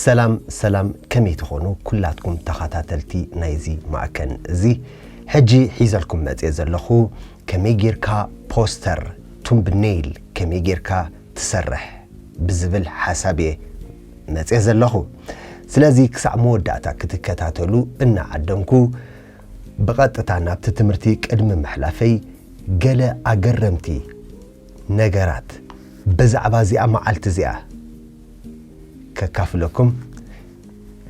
ሰላም ሰላም ከመይ ትኾኑ ኩላትኩም ተኸታተልቲ ናይዚ ማዕከን እዚ ሕጂ ሒዘልኩም መጽየ ዘለኹ ከመይ ጌርካ ፖስተር ቱምብኔይል ከመይ ጌርካ ትሰርሕ ብዝብል ሓሳብ እየ መጽየ ዘለኹ ስለዚ ክሳዕ መወዳእታ ክትከታተሉ እናዓደምኩ ብቐጥታ ናብቲ ትምህርቲ ቅድሚ ምሕላፈይ ገለ ኣገረምቲ ነገራት ብዛዕባ እዚኣ መዓልቲ እዚኣ ከካፍለኩም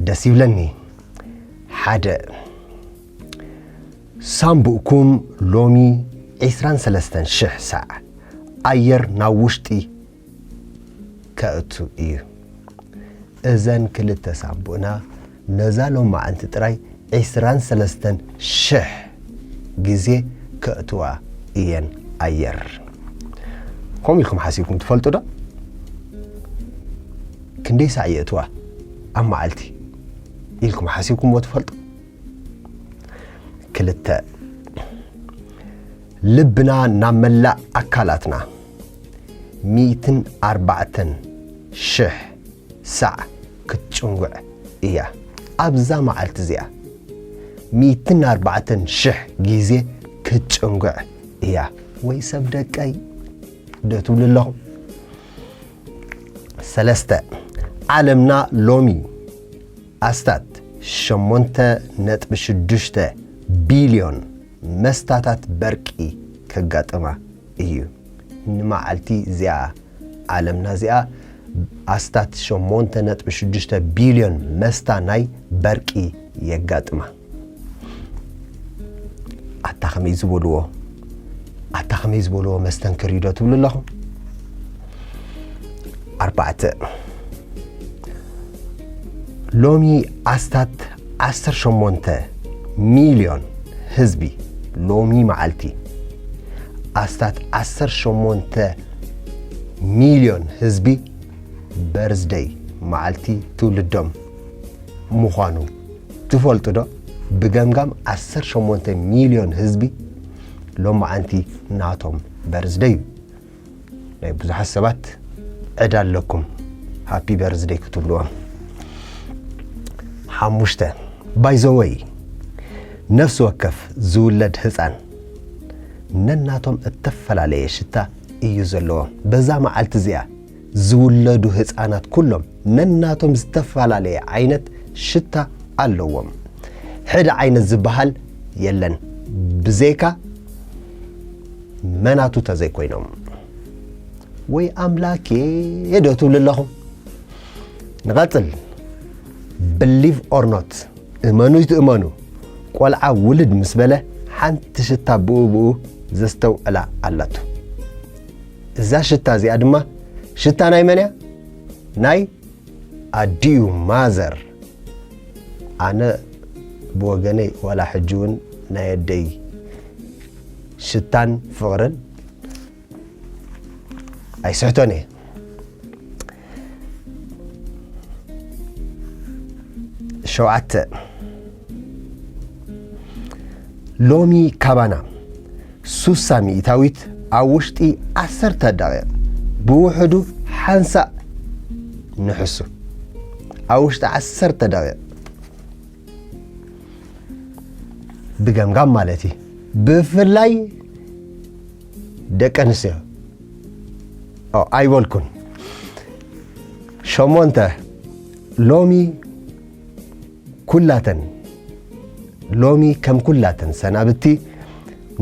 ደስ ይብለኒ። ሓደ ሳንቡእኩም ሎሚ ዒስራን ሰለስተን ሽሕ ሳዕ ኣየር ናብ ውሽጢ ከእቱ እዩ። እዘን ክልተ ሳቡእና ነዛ ሎማዕንቲ ጥራይ ዕስራን ሰለስተን ሽሕ ግዜ ከእትዋ እየን ኣየር። ከምኡ ኢልኩም ሓሲብኩም ትፈልጡ ዶ? ክንደይ ሳዕ የእትዋ ኣብ መዓልቲ ኢልኩም ሓሲብኩምዎ ትፈልጡ? ክልተ ልብና ናብ መላእ ኣካላትና ሚእትን ኣርባዕተን ሽሕ ሳዕ ክትጭንጉዕ እያ። ኣብዛ መዓልቲ እዚኣ ሚእትን ኣርባዕተን ሽሕ ግዜ ክትጭንጉዕ እያ። ወይ ሰብ ደቀይ ዶ ትብሉ ኣለኹም? ሰለስተ ዓለምና ሎሚ ኣስታት ሸሞንተ ነጥቢ ሽዱሽተ ቢልዮን መስታታት በርቂ ከጋጥማ እዩ ንመዓልቲ እዚኣ ዓለምና እዚኣ ኣስታት ሸሞንተ ነጥቢ ሽዱሽተ ቢልዮን መስታ ናይ በርቂ የጋጥማ ኣታ ከመይ ዝበልዎ ኣታ ከመይ ዝበልዎ መስተንክር እዩ ዶ ትብሉ ኣለኹም ኣርባዕተ ሎሚ ኣስታት ዓሰርተ ሸሞንተ ሚልዮን ህዝቢ ሎሚ መዓልቲ ኣስታት ዓሰርተ ሸሞንተ ሚልዮን ህዝቢ በርዝደይ መዓልቲ ትውልዶም ምዃኑ ትፈልጡ ዶ? ብገምጋም ዓሰርተ ሸሞንተ ሚልዮን ህዝቢ ሎመዓንቲ ናቶም በርዝደይ እዩ። ናይ ብዙሓት ሰባት ዕዳ ኣለኩም ሃፒ በርዝደይ ክትብልዎም ሓሙሽተ ባይዘወይ ነፍሲ ወከፍ ዝውለድ ህፃን ነናቶም እተፈላለየ ሽታ እዩ ዘለዎም በዛ መዓልቲ እዚኣ ዝውለዱ ህፃናት ኩሎም ነናቶም ዝተፈላለየ ዓይነት ሽታ ኣለዎም ሕደ ዓይነት ዝበሃል የለን ብዘይካ መናቱ ተዘይኮይኖም ወይ ኣምላኬ ዶ ትብሉ ኣለኹም ንቐጽል ብሊቭ ኦር ኖት እመኑ ይትእመኑ ቆልዓ ውልድ ምስ በለ ሓንቲ ሽታ ብኡ ብኡ ዘስተውዕላ ኣላቱ እዛ ሽታ እዚኣ ድማ ሽታ ናይ መን እያ ናይ ኣዲኡ ማዘር ኣነ ብወገነይ ዋላ ሕጂ እውን ናይ ኣደይ ሽታን ፍቕርን ኣይስሕቶን እየ ሸውዓተ ሎሚ ካባና ሱሳ ሚእታዊት ኣብ ውሽጢ ዓሰርተ ደቂቕ ብውሕዱ ሓንሳእ ንሕሱ ኣብ ውሽጢ ዓሰርተ ደቂቕ ብገምጋም ማለት እዩ ብፍላይ ደቂ ኣንስትዮ ኣይበልኩን ሸሞንተ ሎሚ ኩላተን ሎሚ ከም ኩላተን ሰናብቲ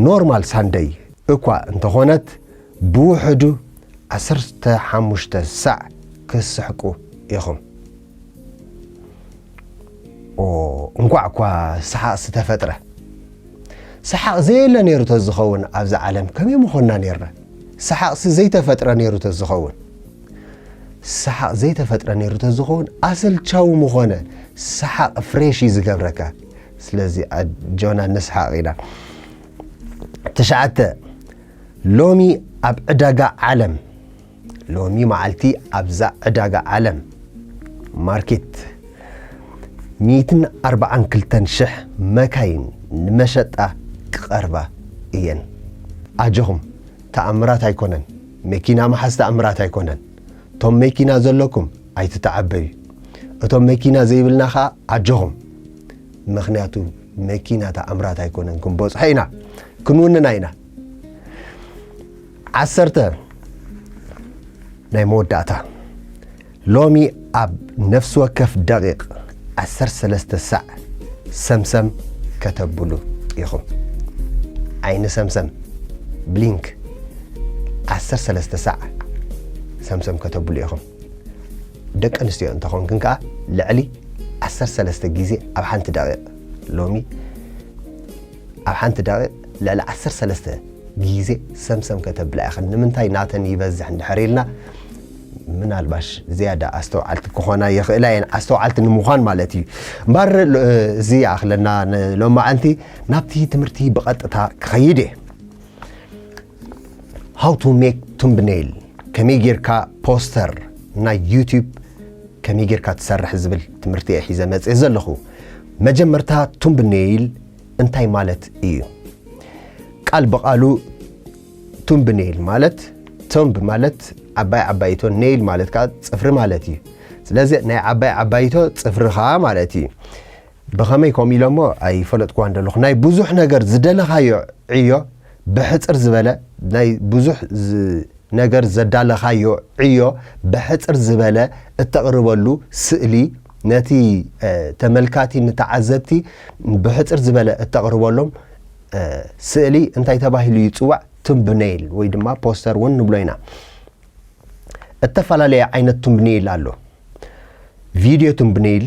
ኖርማል ሳንደይ እኳ እንተኾነት ብውሕዱ ዓሰርተ ሓሙሽተ ሳዕ ክስሕቁ ኢኹም እንኳዕ እኳ ሰሓቕ ዝተፈጥረ ሰሓቕ ዘየለ ነይሩ ተዝኸውን ኣብዚ ዓለም ከመይ ምኾንና ነርና ሰሓቕሲ ዘይተፈጥረ ነይሩ ተዝኸውን ሰሓቕ ዘይተፈጥረ ነይሩ ተዝኸውን ኣሰልቻዊ ምኾነ ሰሓቕ ፍሬሽ እዩ ዝገብረካ ስለዚ ኣጆና ንስሓቕ ኢና ትሽዓተ ሎሚ ኣብ ዕዳጋ ዓለም ሎሚ መዓልቲ ኣብዛ ዕዳጋ ዓለም ማርኬት ሚእትን ኣርባዓን ክልተን ሽሕ መካይን ንመሸጣ ክቐርባ እየን። ኣጆኹም ተኣምራት ኣይኮነን መኪና ምሓዝ ተኣምራት ኣይኮነን እቶም መኪና ዘለኩም ኣይትተዓበዩ እቶም መኪና ዘይብልና ከኣ ኣጆኹም ምኽንያቱ መኪና ተኣምራት ኣይኮነን ክንበጽሖ ኢና ክንውንና ኢና። ዓሰርተ፣ ናይ መወዳእታ፣ ሎሚ ኣብ ነፍሲ ወከፍ ደቒቕ ዓሰርተ ሰለስተ ሳዕ ሰምሰም ከተብሉ ኢኹም። ዓይኒ ሰምሰም፣ Blink፣ ዓሰርተ ሰለስተ ሳዕ ሰምሰም ከተብሉ ኢኹም። ደቂ ኣንስትዮ እንተኾንክን ከኣ ልዕሊ ዓሰርተ ሰለስተ ግዜ ኣብ ሓንቲ ደቒቕ ሎሚ ኣብ ሓንቲ ደቒቕ ልዕሊ ዓሰርተ ሰለስተ ግዜ ሰምሰም ከተብላ ኢኽን። ንምንታይ ናተን ይበዝሕ እንድሕር ኢልና፣ ምናልባሽ ዝያዳ ኣስተውዓልቲ ክኾና ይኽእላ እየን፣ ኣስተውዓልቲ ንምዃን ማለት እዩ። እምበኣር እዚ ይኣኽለና ንሎማዕንቲ፣ ናብቲ ትምህርቲ ብቐጥታ ክኸይድ እየ። ሃው ቱ ሜክ ቱምብነይል ከመይ ጌርካ ፖስተር ናይ ዩቲዩብ ከመይ ጌርካ ትሰርሕ ዝብል ትምህርቲ እየ ሒዘ መፅእ ዘለኹ መጀመርታ ቱምብነይል እንታይ ማለት እዩ ቃል ብቓሉ ቱምብነይል ማለት ቶምብ ማለት ዓባይ ዓባይቶ ነይል ማለት ከዓ ፅፍሪ ማለት እዩ ስለዚ ናይ ዓባይ ዓባይቶ ፅፍርኻ ማለት እዩ ብኸመይ ከምኡ ኢሎሞ ኣይፈለጥክዋን ደለኹ ናይ ብዙሕ ነገር ዝደለኻዮ ዕዮ ብሕጽር ዝበለ ናይ ብዙሕ ነገር ዘዳለኻዮ ዕዮ ብሕጽር ዝበለ እተቕርበሉ ስእሊ ነቲ ተመልካቲ ንተዓዘብቲ ብሕጽር ዝበለ እተቕርበሎም ስእሊ እንታይ ተባሂሉ ይጽዋዕ ቱምብነይል ወይ ድማ ፖስተር እውን ንብሎ ኢና እተፈላለየ ዓይነት ቱምብነይል ኣሎ ቪድዮ ቱምብነይል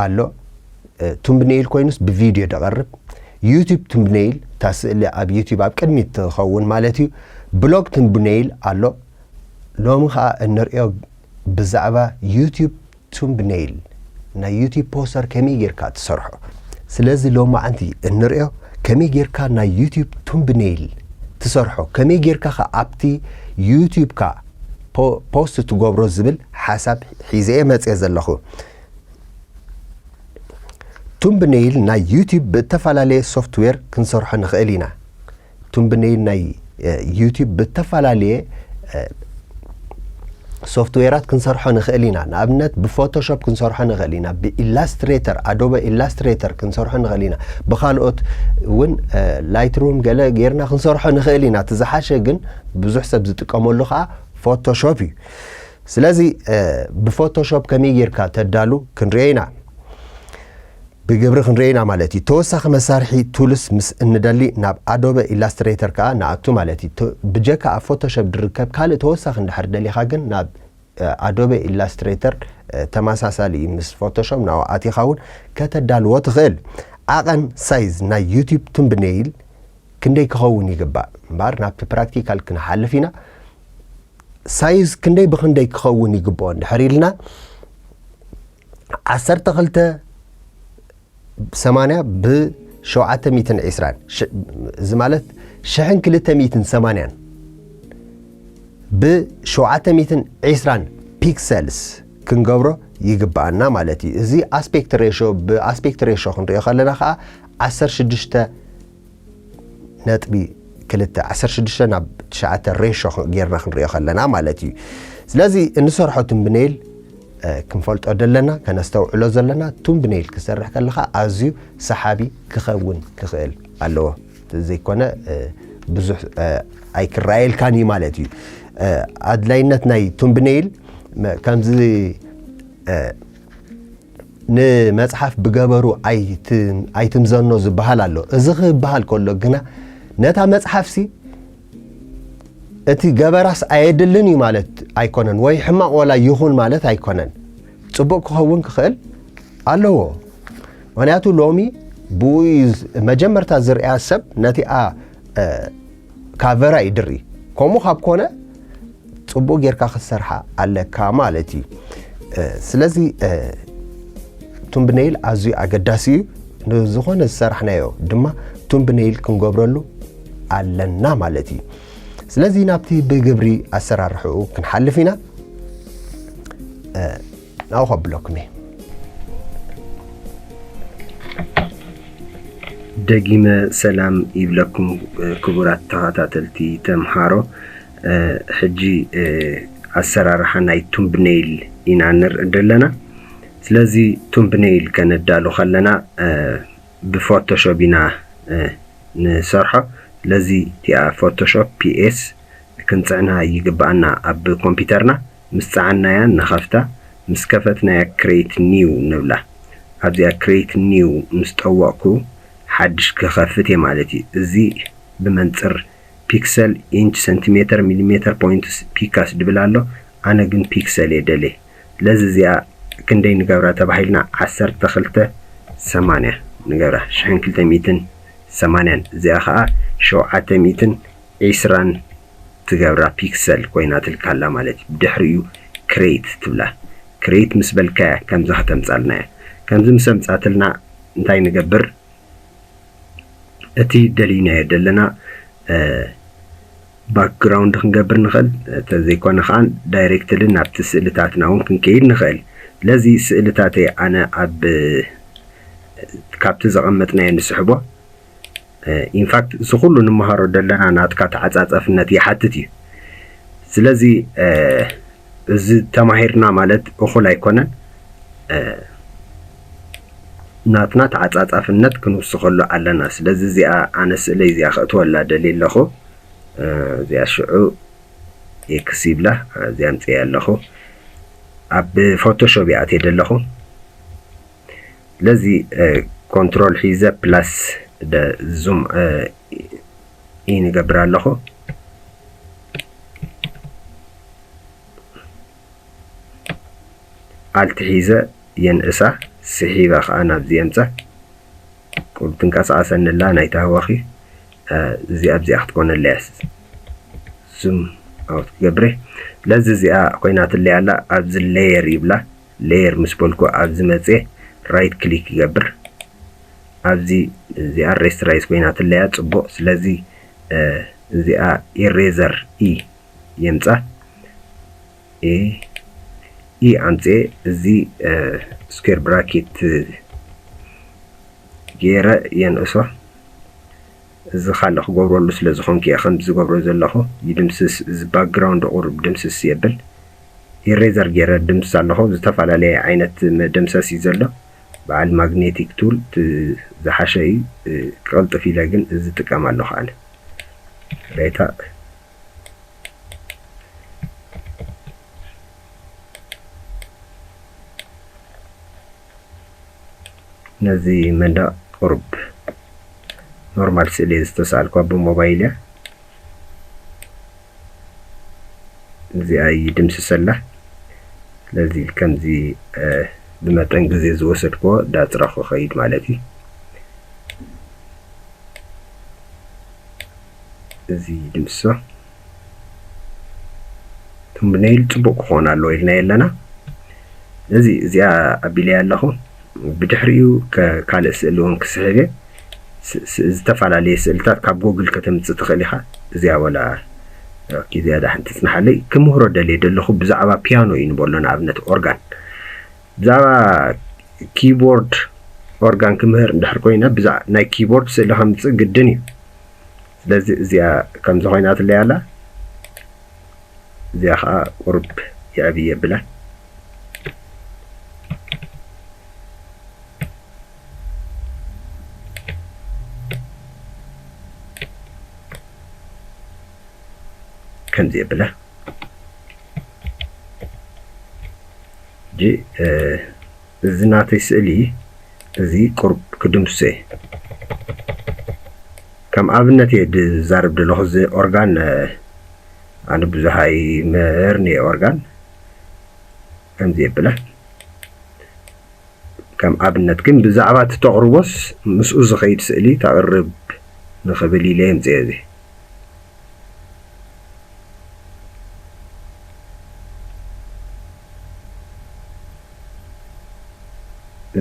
ኣሎ ቱምብኔይል ኮይኑስ ብቪድዮ ደቐርብ ዩቱብ ቱምብኔይል እታ ስእሊ ኣብ ዩቱብ ኣብ ቅድሚት ትኸውን ማለት እዩ ብሎግ ቱምብኔይል ኣሎ ሎሚ ከዓ እንሪኦ ብዛዕባ ዩቱብ ቱምብኔይል ናይ ዩቱብ ፖስተር ከመይ ጌርካ ትሰርሖ ስለዚ ሎማዓንቲ እንሪኦ ከመይ ጌርካ ናይ ዩቱብ ቱምብኔይል ትሰርሖ ከመይ ጌርካ ከ ኣብቲ ዩቱብካ ፖስት ትገብሮ ዝብል ሓሳብ ሒዘ እየ መፅየ ዘለኹ ቱምብነይል ናይ ዩቱብ ብእተፈላለየ ሶፍትዌር ክንሰርሖ ንኽእል ኢና። ቱምብነይል ናይ ዩቱብ ብእተፈላለየ ሶፍትዌራት ክንሰርሖ ንኽእል ኢና። ንኣብነት ብፎቶሾፕ ክንሰርሖ ንኽእል ኢና፣ ብኢላስትሬተር ኣዶበ ኢላስትሬተር ክንሰርሖ ንኽእል ኢና፣ ብካልኦት እውን ላይትሩም ገለ ጌርና ክንሰርሖ ንኽእል ኢና። እቲ ዝሓሸ ግን ብዙሕ ሰብ ዝጥቀመሉ ከዓ ፎቶሾፕ እዩ። ስለዚ ብፎቶሾፕ ከመይ ጌርካ ተዳሉ ክንሪኦ ኢና ብግብሪ ክንሪኦ ኢና ማለት እዩ ተወሳኺ መሳርሒ ቱልስ ምስ እንደሊ ናብ ኣዶበ ኢላስትሬተር ከኣ ንኣቱ ማለት እዩ ብጀካ ኣብ ፎቶሾፕ ዝርከብ ካልእ ተወሳኺ እንድሕር ደሊኻ ግን ናብ ኣዶበ ኢላስትሬተር ተመሳሳሊ እዩ ምስ ፎቶሾፕ ናብኡ ኣቲኻ እውን ከተዳልዎ ትኽእል ዓቐን ሳይዝ ናይ ዩቱብ ቱምብኔይል ክንደይ ክኸውን ይግባእ እምበኣር ናብቲ ፕራክቲካል ክንሓልፍ ኢና ሳይዝ ክንደይ ብክንደይ ክኸውን ይግብኦ እንድሕር ኢልና ዓሰርተ ክልተ ሰማንያ ብሸውዓተ ሚትን ዒስራን እዚ ማለት ሽሕን ክልተ ሚትን ሰማንያን ብሸውዓተ ሚትን ዒስራን ፒክሰልስ ክንገብሮ ይግብኣና ማለት እዩ እዚ ኣስፔክት ሬሾ ብኣስፔክት ሬሾ ክንሪኦ ከለና ከዓ ዓሰርተ ሽዱሽተ ነጥቢ ክልተ ዓሰርተ ሽዱሽተ ናብ ትሽዓተ ሬሾ ጌርና ክንሪኦ ከለና ማለት እዩ ስለዚ እንሰርሖ ትምብኔል ክንፈልጦ ዘለና ከነስተውዕሎ ዘለና ቱምብኔል ክሰርሕ ከለካ ኣዝዩ ሰሓቢ ክኸውን ክኽእል ኣለዎ ዘይኮነ ብዙሕ ኣይክረኣየልካን እዩ ማለት እዩ ኣድላይነት ናይ ቱምብኔል ከምዚ ንመጽሓፍ ብገበሩ ኣይትምዘኖ ዝበሃል ኣሎ እዚ ክበሃል ከሎ ግና ነታ መጽሓፍሲ እቲ ገበራስ ኣየድልን እዩ ማለት ኣይኮነን ወይ ሕማቕ ወላ ይኹን ማለት ኣይኮነን ጽቡቕ ክኸውን ክኽእል ኣለዎ ምክንያቱ ሎሚ ብኡ መጀመርታ ዝርያ ሰብ ነቲኣ ካቨራ እዩ ድሪ ከምኡ ካብ ኮነ ፅቡቅ ጌርካ ክትሰርሓ ኣለካ ማለት እዩ ስለዚ ቱምብነይል ኣዝዩ ኣገዳሲ እዩ ንዝኾነ ዝሰራሕናዮ ድማ ቱምብነይል ክንገብረሉ ኣለና ማለት እዩ ስለዚ ናብቲ ብግብሪ ኣሰራርሕኡ ክንሓልፍ ኢና ናብኡ ከብለኩም እየ ደጊመ ሰላም ይብለኩም ክቡራት ተኸታተልቲ ተምሃሮ ሕጂ ኣሰራርሓ ናይ ቱምብነይል ኢና ንርኢ ዘለና ስለዚ ቱምብነይል ከነዳሉ ከለና ብፎቶሾፕ ኢና ንሰርሖ ስለዚ እቲኣ ፎቶሾፕ ፒኤስ ክንፅዕና ይግብኣና ኣብ ኮምፒውተርና ምስ ጸዓናያ ንኸፍታ ምስ ከፈትናያ Create New ንብላ ኣብዚኣ Create New ምስ ጠወቕኩ ሓድሽ ክኸፍት እየ ማለት እዩ እዚ ብመንጽር Pixel Inch Centimeter Millimeter Points Picas ድብል ኣሎ ኣነ ግን Pixel እየ ደልየ ስለዚ እዚኣ ክንደይ ንገብራ ተባሂልና ዓሰርተ ክልተ ሰማንያ ንገብራ ሽሕን ክልተ ሚእትን ሰማንያን እዚኣ ከኣ ሸውዓተ ሚእትን ዒስራን ትገብራ ፒክሰል ኮይናትልካ ኣላ ማለት እዩ ብድሕሪኡ ክሬት ትብላ ክሬት ምስ በልካያ ከምዚ ከተምጻልና እያ ከምዚ ምስ ኣምጻትልና እንታይ ንገብር እቲ ደሊናዮ ደለና ባክግራውንድ ክንገብር ንኽእል ተዘይኮነ ከዓ ዳይሬክትሊ ናብቲ ስእልታትና እውን ክንከይድ ንኽእል ስለዚ ስእልታተይ ኣነ ኣብ ካብቲ ዘቐመጥናዮ ንስሕቦ in fact እዚ ኩሉ ንመሃሮ ደለና ናትካ ተዓጻጸፍነት ይሓትት እዩ ስለዚ እዚ ተማሂርና ማለት እኹል ኣይኮነን ናትና ተዓጻጻፍነት ክንውስኸሉ ኣለና ስለዚ እዚኣ ኣነ ስእለይ እዚኣ ክእትወላ ደልየ ኣለኹ እዚኣ ሽዑ ኤክስ ይብላ እዚኣ ኣምፅኤ ኣለኹ ኣብ ፎቶሾፕ ይኣትየ ደለኹ ስለዚ ኮንትሮል ሒዘ ፕላስ ዙም ኢን ይገብር ኣለኹ ኣልቲ ሒዘ የንእሳ ስሒበ ከዓ ናብዚ የምፀ ቁብ ትንቀሳቐሰኒ ኣላ ናይታ ህወኺ እዚኣ ኣብዚኣ ክትኮነለያ ዙም ኣውት ክገብረ ስለዚ እዚኣ ኮይናትለይ ኣላ ኣብዚ ሌየር ይብላ ሌየር ምስ በልኩ ኣብዚ መጼ ራይት ክሊክ ይገብር ኣብዚ እዚኣ ሬስትራይዝ ኮይና ትለያ ጽቡቅ ስለዚ እዚኣ ኢሬዘር ኢ የምጻ ኢ ኢ ኣምጼ እዚ ስኩዌር ብራኬት ገይረ የንእሶ እዚ ካልእ ክገብረሉ ስለ ዝኾንኩ እየ ከምዚ ዝገብሮ ዘለኹ ይድምስስ እዚ ባክግራውንድ ቁሩብ ድምስስ የብል ኢሬዘር ጌረ ድምስስ ኣለኹ ዝተፋላለየ ዓይነት መደምሰስ እዩ ዘሎ በዓል ማግኔቲክ ቱል ዝሓሸ እዩ ክቅልጥፍ ኢለ ግን እዚ ጥቀም ኣለኹ ኣነ ሬታ ነዚ መንደቅ ቁርብ ኖርማል ስእሊ ዝተሳልኳ ብሞባይል እያ እዚኣ ይድምስሰላ ስለዚ ከምዚ ብመጠን ግዜ ዝወሰድክዎ ዳጽረኹ ኸይድ ማለት እዩ እዚ ድምሶ ቱምብነይል ጽቡቅ ክኾን ኣለዎ ኢልና የለና ስለዚ እዚኣ ኣቢለያ ኣለኹ ብድሕሪኡ ካልእ ስእሊ እውን ክስሕብ እየ ዝተፋላለየ ስእልታት ካብ ጎግል ከተምጽእ ትኽእል ኢኻ እዚኣ ወላ ኦኬ እዚኣ ዳሓን ትጽናሓለይ ክምህሮ ደልየ ደለኹ ብዛዕባ ፒያኖ እዩ ንበሎ ንኣብነት ኦርጋን ብዛዕባ ኪቦርድ ኦርጋን ክምህር እንድሕር ኮይነ ብዛ ናይ ኪቦርድ ስእሊ ከምፅእ ግድን እዩ ስለዚ እዚኣ ከምዚ ኮይና ትለይ ኣላ እዚኣ ከዓ ቁርብ የዕብየ ብላ ከምዚ የብላ ሕጂ እዚ ናተይ ስእሊ እዚ ቁርብ ክድምስሶ እየ ከም ኣብነት እየ ዝዛርብ ዘለኹ እዚ ኦርጋን ኣነ ብዙሃይ ምህር ንየ ኦርጋን ከምዚ የብላ ከም ኣብነት ግን ብዛዕባ እቲ ተቕርቦስ ምስኡ ዝኸይድ ስእሊ ተቕርብ ንኽብል ኢለ የምጽኤ እዚ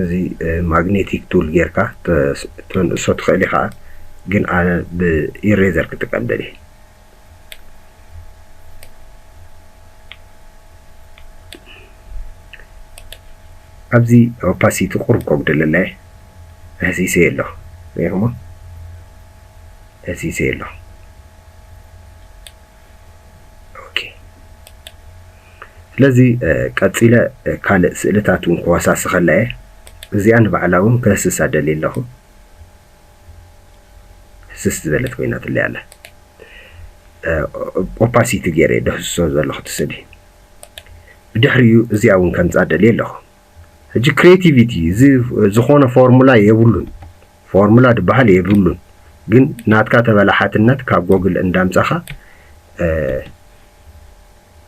እዚ ማግኔቲክ ቱል ጌርካ ተንእሶ ትኽእል ኢኻ ግን ኣነ ብኢሬዘር ክጥቀም ደልየ ኣብዚ ኦፓሲቲ ቁሩብ ከጉድለለይ ተህሲሰዮ ኣለኹ ሪኢኹሞ ተህሲሰዮ ኣለኹ ኦኬ ስለዚ ቀፂለ ካልእ ስእልታት እውን ክወሳስኸላ እየ እዚኣ ንባዕላ እውን ከህስሳ ደልየ ኣለኹ ህስስ ዝበለት ኮይናትለይ ኣላ ኦፓሲቲ ገይረ ደህስሶ ዘለኹ እቲ ስእሊ ብድሕሪኡ እዚኣ እውን ከምፃ ደልየ ኣለኹ ሕጂ ክሬቲቪቲ እዚ ዝኾነ ፎርሙላ የብሉን ፎርሙላ ድበሃል የብሉን ግን ናትካ ተበላሓትነት ካብ ጎግል እንዳምፃኻ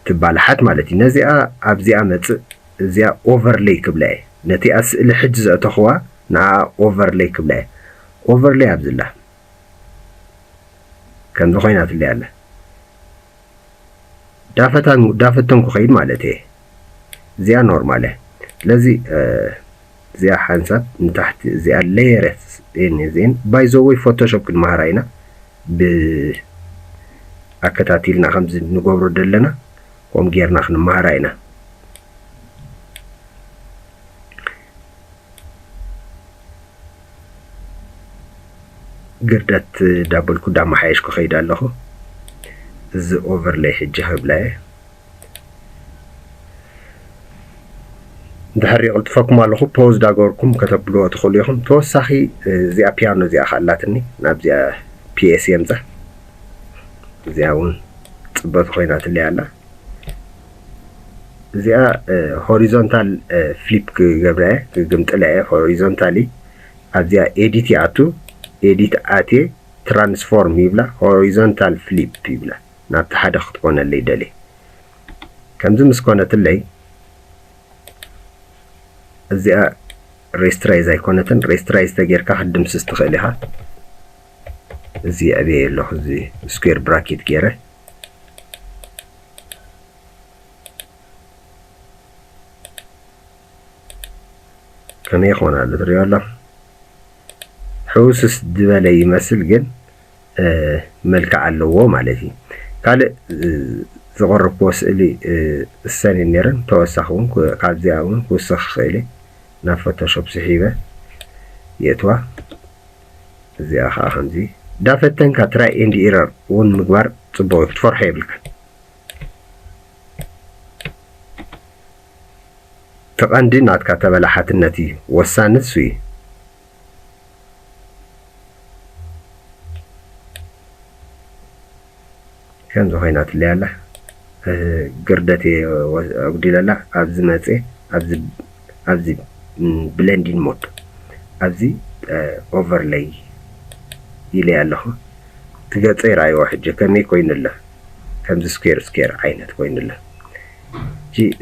ትባላሓት ማለት እዩ ነዚኣ ኣብዚኣ መጽእ እዚኣ ኦቨርለይ ክብላ እየ ነቲኣ ስእሊ ሕጂ ዘእተኽዋ ንዓኣ ኦቨርለይ ክብላ እየ ኦቨርለይ ኣብዝላ ከምዚ ኮይናትለይ ኣላ ዳፈታን ዳፈተን ኩኸይድ ማለት እየ እዚኣ ኖርማል እያ ስለዚ እዚኣ ሓንሳብ ንታሕቲ እዚኣ ለየረት እየን እዚኤን ባይዘወይ ፎቶሾፕ ክንማሃራ ኢና ብ ኣከታቲልና ከምዚ ንገብሮ ደለና ኮም ገርና ክንማሃራ ኢና። ግርደት ዳበልኩ ዳማሓየሽኩ ከይድ ኣለኩ እዚ ኦቨርለይ ሕጂ ከብላ እየ። ድሕር የቕልጥፈኩም ኣለኹ ፖዝ ዳገበርኩም ከተብልዎ ትኽእሉ ኢኹም ተወሳኺ እዚኣ ፒያኖ እዚኣ ኸ ኣላትኒ ናብዚኣ ፒኤስ የምፀ እዚኣ እውን ፅበቱ ኮይናትለይ ኣላ እዚኣ ሆሪዞንታል ፍሊፕ ክገብራ እየ ክግምጥላ እየ ሆሪዞንታሊ ኣብዚኣ ኤዲት ይኣቱ ኤዲት ኣቴ ትራንስፎርም ይብላ ሆሪዞንታል ፍሊፕ ይብላ ናብቲ ሓደ ክትኮነለይ ደልየ ከምዚ ምስ ኮነትለይ እዚኣ ሬስትራይዝ ኣይኮነትን ሬስትራይዝ ተጌርካ ክትድምስስ ትኽእል ኢኻ እዚ የዕብየ ኣለኹ እዚ ስኩዌር ብራኬት ገይረ ከመይ ይኾን ኣሎ ትሪኦ ኣለኹ ሕውስስ ዝበለ ይመስል ግን መልክዕ ኣለዎ ማለት እዩ። ካልእ ዘቕረብክዎ ስእሊ እሰን እየን ነይረን ተወሳኺ እውን ካብዚኣ እውን ክውስኽ ይኽእል እየ ናብ ፎቶሾፕ ስሒበ የእትዋ እዚኣ ከዓ ከምዚ እንዳፈተንካ ትራይ ኤንድ ኢረር እውን ምግባር ፅቡቕ እዩ ክትፈርሖ የብልካን እቲ ቀንዲ ናትካ ተበላሓትነት እዩ ወሳኒ እሱ እዩ ከምዚ ኮይናትለይ ኣላ ግርደት እየ ኣጉዲለላ ኣብዚ መፅየ ኣብዚ ኣብዚ ብለንዲን ሞድ ኣብዚ ኦቨርለይ ኢለይ ኣለኹ ትገፀ ይረኣይዎ ሕጂ ከመይ ኮይኑ ኣሎ ከምዚ ስኩዌር ስኩዌር ዓይነት ኮይኑ ኣሎ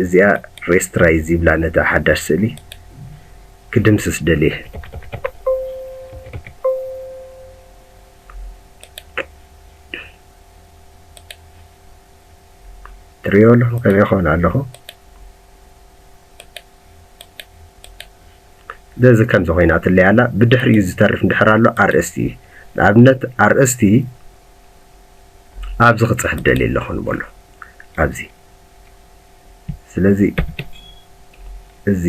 እዚኣ ሬስትራይዝ ይብላ ነታ ሓዳሽ ስእሊ ክድምስስ ደልየ። ትርእይዎ ኣለኹም ከምይ ይኸውን ኣለኹ። ስለዚ ከምዚ ኮይና ትለይ ኣላ ብድሕሪኡ ዝተርፍ እንድሕር ኣሎ ኣርእስቲ እዩ ንኣብነት ኣርእስቲ ኣብዚ ክፅሕፍ ደልየ ኣለኹ ንበሎ ኣብዚ ስለዚ እዚ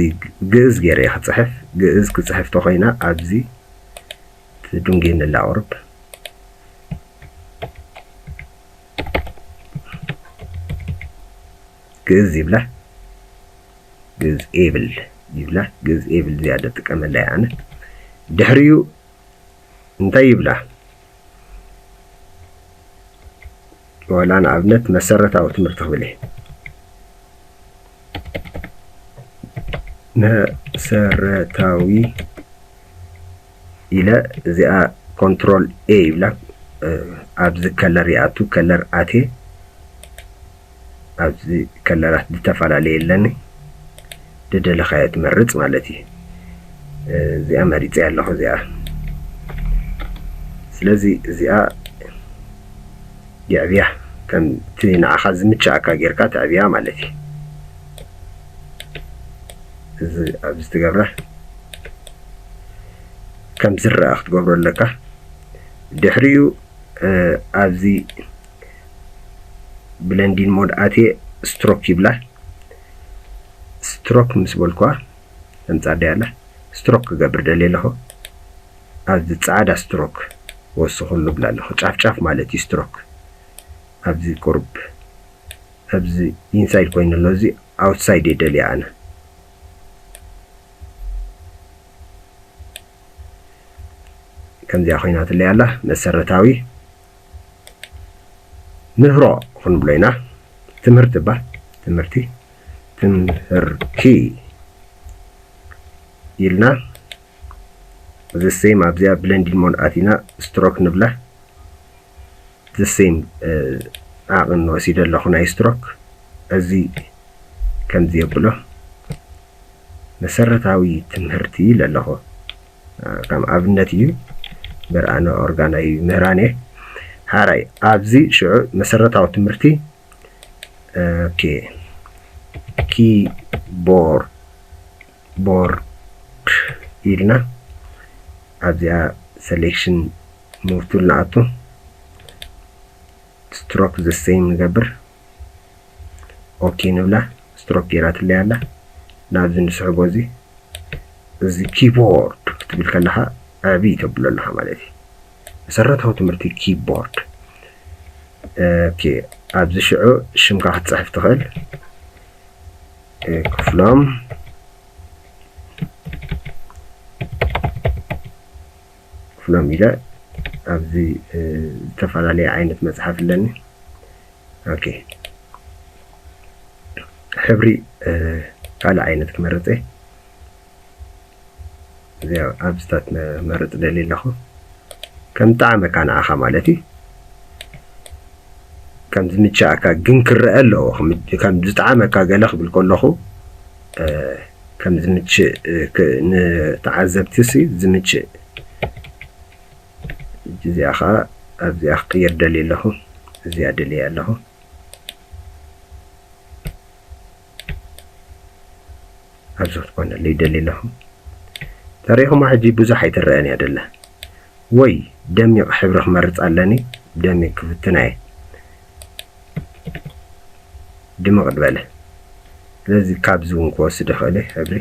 ግእዝ ገይረ እየ ክፅሕፍ ግእዝ ክፅሕፍ ተኾይና ኣብዚ ትድንጌኒ ኣላ ቁርብ ግእዝ ይብላ ግእዝ ኤብል ይብላ ግእዝ ኤብል ዝያደ ጥቀመላ እየ ኣነ ድሕሪኡ እንታይ ይብላ ዋላ ንኣብነት መሰረታዊ ትምህርቲ ክብል እየ መሰረታዊ ኢለ እዚኣ ኮንትሮል ኤ ይብላ ኣብዚ ከለር ይኣቱ ከለር ኣቴ ኣብዚ ከለራት ዝተፈላለየ ኣለኒ ደደለኻዮ ትመርጽ ማለት እዩ እዚኣ መሪጸ ኣለኹ እዚኣ ስለዚ እዚኣ የዕብያ ከምቲ ንዓኻ ዝምችኣካ ጌርካ ተዕብያ ማለት እዩ እዚ ኣብዚ ትገብረ ከም ዝረኣ ክትገብሮ ኣለካ ድሕሪኡ ኣብዚ ብለንዲን ሞድ ኣትየ ስትሮክ ይብላ ስትሮክ ምስ በልኩዋ ተምጻደያ ኣላ ስትሮክ ክገብር ደልየ ኣለኹ ኣብዚ ጻዕዳ ስትሮክ ወስኹሉ ብላ ኣለኹ ጫፍ ጫፍ ማለት እዩ ስትሮክ ኣብዚ ቁርብ ኣብዚ ኢንሳይድ ኮይኑ ኣሎ እዚ ኣውትሳይድ እየ ደልያ ኣነ ከምዚኣ ኮይናትለይ ኣላ መሰረታዊ ምህሮ ክንብሎ ኢና ትምህርቲ እባ ትምህርቲ ትምህርቲ ኢልና the same ኣብዚኣ ብለንዲን ሞድ ኣቲና ስትሮክ ንብላ the same ዓቕን ወሲደ ኣለኹ ናይ ስትሮክ እዚ ከምዚ የብሎ መሰረታዊ ትምህርቲ ኢለ ኣለኹ ከም ኣብነት እዩ በርኣነ ኦርጋናይ ምህራኔ ሓራይ ኣብዚ ሽዑ መሰረታዊ ትምህርቲ ኦኬ ኪቦርድ ቦርድ ኢልና ኣብዚኣ ሰሌክሽን ሙቭ ቱል ንኣቱ ስትሮክ ዘሰይም ንገብር ኦኬ ንብላ ስትሮክ ገይራትለይ ኣላ ናብዚ ንስሕቦ እዚ እዚ ኪቦርድ ክትብል ከለኻ ዕቢ ተብሎ ኣለኻ ማለት እዩ መሰረታዊ ትምህርቲ ኪቦርድ ኦኬ ኣብዚ ሽዑ ሽምካ ክትፅሕፍ ትኽእል ክፍሎም ክፍሎም ኢለ ኣብዚ ዝተፈላለየ ዓይነት መጽሓፍ ኣለኒ ኦኬ ሕብሪ ካልእ ዓይነት ክመርጽ እየ እዚኣ ኣብ ስታት መርፅ ደልየ ኣለኹ ከም ጣዕመካ ንዓኻ ማለት እዩ ከም ዝምቸኣካ ግን ክረአ ኣለዎ ከም ዝጣዕመካ ገለ ክብል ከለኹ ከም ዝምችእ ንተዓዘብቲሲ ዝምችእ ሕጂ እዚኣ ከዓ ኣብዚኣ ክቅይር ደልየ ኣለኹ እዚኣ ደልየ ኣለኹ ኣብዚ ክትኮነለይ ደልየ ኣለኹ ተሪኹማ ሕጂ ብዙሕ ኣይትረአን እያ ደላ ወይ ደሚቕ ሕብሪ ክመርፅ ኣለኒ ደሚቕ ክፍትና እየ ድምቕ ዝበለ ስለዚ ካብዚ እውን ክወስድ ይኽእል እየ ሕብሪ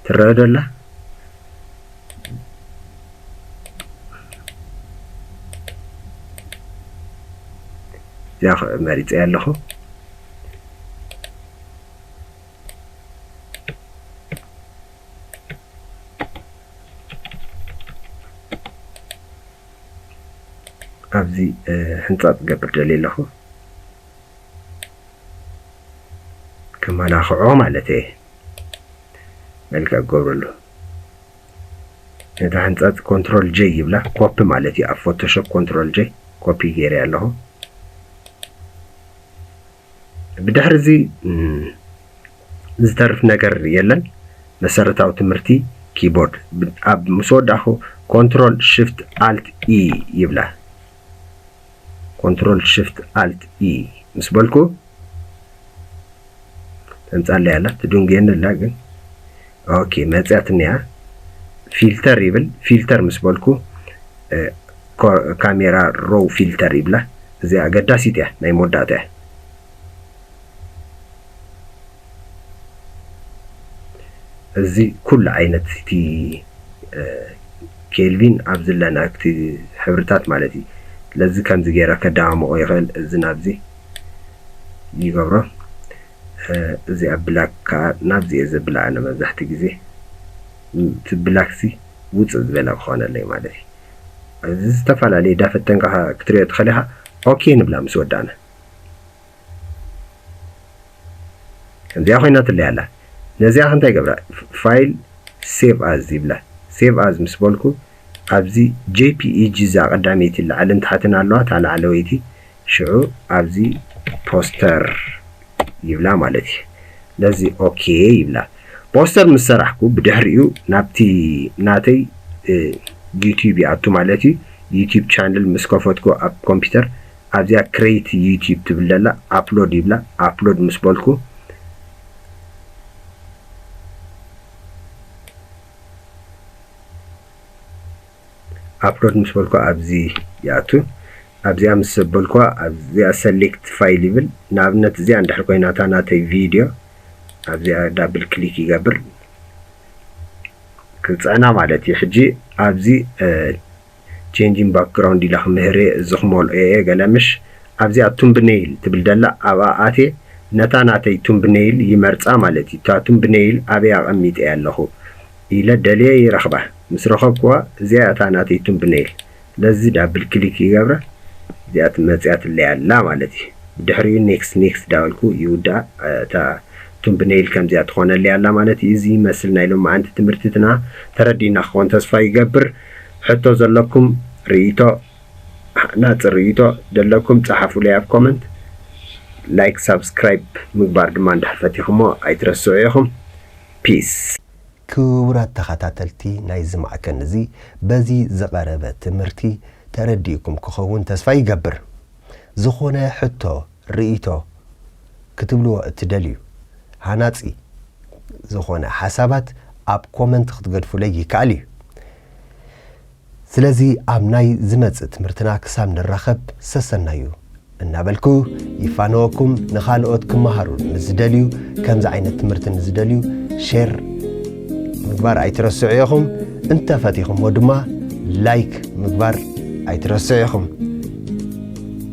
ትረአ ዶ ኣላ እዚኣ መሪፀ ኣለኹ ኣብዚ ሕንጻጽ ክገብር ደልየ ኣለኹ ከመላኽዖ ማለት እየ መልክዕ ክገብረሉ ነታ ሕንጻጽ ኮንትሮል ጀይ ይብላ ኮፒ ማለት እዩ ኣብ ፎቶሾፕ ኮንትሮል ጀይ ኮፒ ገይረ ኣለኹ ብድሕርዚ ዝተርፍ ነገር የለን። መሰረታዊ ትምህርቲ ኪቦርድ ኣብ ምስ ወዳእኹ ኮንትሮል ሽፍት ኣልት ኢ ይብለ። ኮንትሮል ሽፍት ኣልት ኢ ምስ በልኩ ተምጻለይ ኣላ ትድንጉየኒ ኣላ ግን ኦኬ መጽያትኒ እያ ፊልተር ይብል ፊልተር ምስ በልኩ ካሜራ ሮው ፊልተር ይብላ እዚኣ ኣገዳሲት እያ ናይ መወዳእታ እያ እዚ ኩሉ ዓይነት እቲ ኬልቪን ኣብ ዝለና እቲ ሕብርታት ማለት እዩ ለዚ ከምዚ ገይረ ከደማምቆ ይኽእል እዚ ናብዚ ይገብሮ እዚኣ ብላክ ከኣ ናብዚ እየ ዘብላ ኣነ መብዛሕትኡ ግዜ እቲ ብላክሲ ውጽእ ዝበለ ክኾነለይ ማለት እዩ እዚ ዝተፈላለየ ዳፈተንካ ክትሪኦ ትኽእል ኢኻ ኦኬ ንብላ ምስ ወዳእና ከምዚኣ ኮይናትለይ ኣላ ነዚኣ ከንታይ ገብራ ፋይል ሴቭ ኣዝ ይብላ ሴቭ ኣዝ ምስ በልኩ ኣብዚ ጄፒኢጂ እዛ ቀዳመይቲ ላዕልን ታሕትን ኣለዋ እታ ላዕለወይቲ ሽዑ ኣብዚ ፖስተር ይብላ ማለት እዩ ነዚ ኦኬ ይብላ ፖስተር ምስ ሰራሕኩ ብድሕሪኡ ናብቲ ናተይ ዩቲዩብ ይኣቱ ማለት እዩ ዩቲዩብ ቻነል ምስ ከፈትኩ ኣብ ኮምፒውተር ኣብዚኣ ክሬት ዩቲዩብ ትብል ዘላ ኣፕሎድ ይብላ ኣፕሎድ ምስ በልኩ ኣፕሎድ ምስ በልኩ ኣብዚ ይኣቱ ኣብዚኣ ምስ ኣበልኩዋ ኣብዚኣ ሰሌክት ፋይል ይብል ንኣብነት እዚኣ እንድሕር ኮይና እታ ናተይ ቪድዮ ኣብዚኣ ዳብል ክሊክ ይገብር ክፅዕና ማለት እዩ ሕጂ ኣብዚ ቼንጂን ባክግራውንድ ኢላ ክምህር እየ እዚ ክመልኦ እየ ገለ ምሽ ኣብዚኣ ቱምብነይል ትብል ደላ ኣብኣ ኣትየ ነታ ናተይ ቱምብነይል ይመርፃ ማለት እዩ እታ ቱምብነይል ኣበይ ኣቐሚጠ ኣለኹ ኢለ ደልየ ይረኽባ ምስ ረኸብክዋ እዚኣ እያ እታ ናተይ ቱምብነይል ስለዚ ዳብል ክሊክ ይገብራ እዚኣ መጺኣትለይ ኣላ ማለት እዩ ብድሕሪኡ ኔክስት ኔክስት ዳበልኩ ይውድኣ እታ ቱምብነይል ከምዚኣ ትኾነለይ ኣላ ማለት እዩ እዚ ይመስል ናይ ሎማዓንቲ ትምህርቲትና ተረዲእና ክኾን ተስፋ ይገብር ሕቶ ዘለኩም ሪኢቶ ሃናጺ ሪኢቶ ደለኩም ጻሓፉለይ ኣብ ኮመንት ላይክ ሳብስክራይብ ምግባር ድማ እንድሕር ፈቲኽሞ ኣይትረስዑ ኢኹም ፒስ። ክቡራት ተኸታተልቲ ናይዚ ማዕከን እዚ በዚ ዝቐረበ ትምህርቲ ተረዲእኩም ክኸውን ተስፋ ይገብር። ዝኾነ ሕቶ፣ ርእይቶ፣ ክትብልዎ እትደልዩ ሃናጺ ዝኾነ ሓሳባት ኣብ ኮመንት ክትገድፉለይ ይከኣል እዩ። ስለዚ ኣብ ናይ ዝመጽእ ትምህርትና ክሳብ ንራኸብ ሰሰናዩ እናበልኩ ይፋነወኩም ንኻልኦት ክመሃሩ ንዝደልዩ ከምዚ ዓይነት ትምህርቲ ንዝደልዩ ሼር ምግባር ኣይትረስዑ ኢኹም እንተፈቲኹሞ ድማ ላይክ ምግባር ኣይትረስዑ ኢኹም